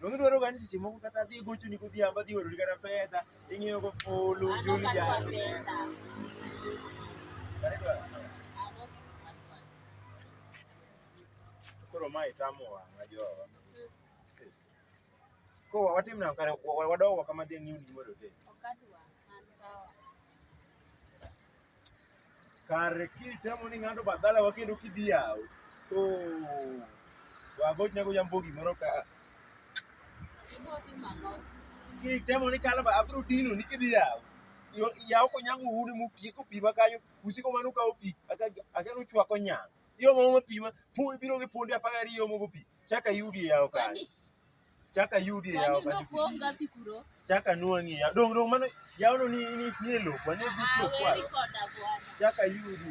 Donge dwaro gani seche moko kata dhi gocho ni godhiambo dhi orori kata pesa ing'iyo go polo joli ja. Koro ma itamo wanga jo. Ko watim na kare wadogo wakama dhi ng'iyo ni moro te. Okadwa. Kare kitemo ni ng'ato badala wa kendo kidhi yawo. To wagoch nago jambo gimoro ka. Kitemo ni kala abro dino ni kidhi yawo. Yawo konyango uni mutieko pi ma kanyo usiko mano kawo pi akelo chwako nyang. Yo mo pi ma biro gi punde apagariyo mogo pi. Chaka yudi yawo kanyo. Chaka yudi e yawo kanyo. Chaka nuang'i yawo. Dong' dong' mano yawono ni ni ni e lopo, ni e but lopo. Chaka yudi.